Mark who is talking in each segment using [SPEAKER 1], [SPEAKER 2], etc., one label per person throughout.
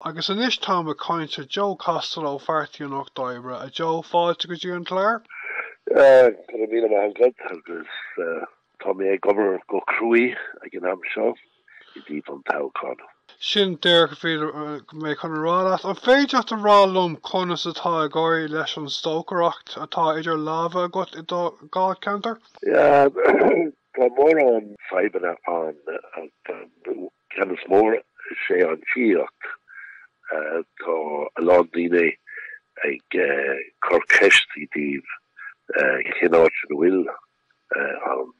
[SPEAKER 1] Agus anois táim ag caint le Joe Costello ó Pháirtí an Lucht Oibre. A Joe, fáilte go dtí an clár. Go raibh míle maith agat agus tá mé ag obair go cruaidh ag an am seo i dtaobh an toghcháin. Sin díreach a bhí mé chun a rá leat. An féidir leat a rá liom conas atá ag éirí leis an stocaireacht atá idir lámha agat i do dháilcheantar? Tá mórán fadhbanna ann. Ceann is mó is é an tithíocht. Tá a lán daoine ag cur ceist i dtaobh cén áit ina bhfuil an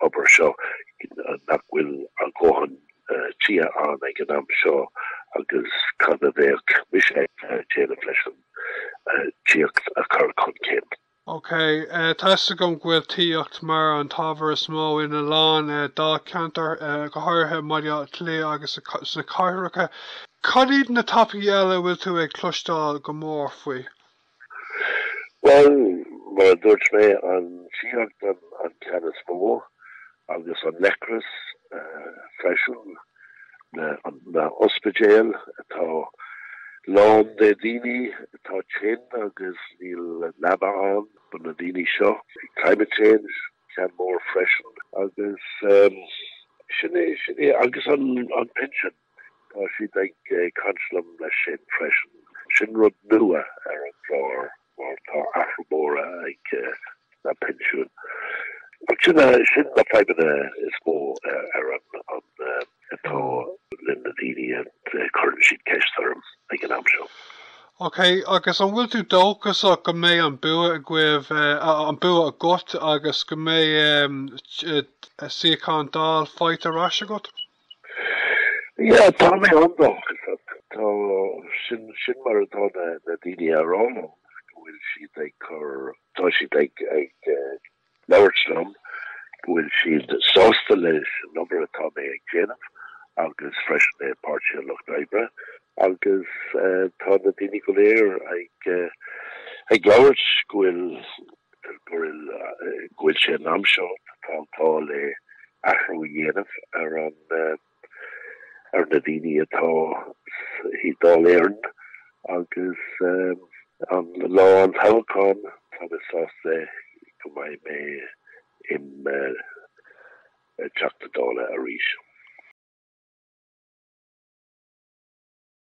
[SPEAKER 1] obair seo, nach bhfuil a ndóthain tithe ann ag an am seo agus cad a bheadh mise ag déanamh leis an tithíocht a chur chun cinn. OK, tá 'fhios agam go bhfuil tithíocht mar an t-ábhar is mó ina lán dáilcheantar, go háirithe i mBaile Átha Cliath agus sna cathracha. Cad iad na topaicí eile a bhfuil tú ag cloisteáil go mór faoi? Bhuel, mar a dúirt mé, an tithíocht an ceann is mó. agus an leigheas freisin, na hospidéil atá lán de dhaoine atá tinn agus níl leaba ann do na daoine seo. Climate change ceann mór freisin agus sin é, sin é, agus an pinsean. Tá siad ag caint liom leis sin freisin. Sin rud nua ar an gclár mar tá athrú mór ag na pinsiúin. Sin sin na fadhbanna is mó ar an atá le na daoine a chuireann siad ceist orm ag an am seo. Ok, agus an bhfuil tú dóchasach go mbeidh an bua agaibh, an bua agat agus go mbeidh suíochán Dáil faighte ar ais agat? Yeah, tá mé an-dóchasach. Tá sin sin mar atá na na daoine ag rá liom go bhfuil siad ag chur tá siad ag ag eh, labhairt liom go bhfuil siad sásta leis an obair atá mé ag déanamh agus freisin é Páirtí an Lucht oibre agus eh, tá na daoine go léir ag eh, ag labhairt go bhfuil go bhfuil sé in am seo na Táltáil le athrú a dhéanamh ar an ar na daoine atá i Dáil Éireann agus an lá an toghcháin tá mé sásta go mbeidh mé im Teachta Dála arís.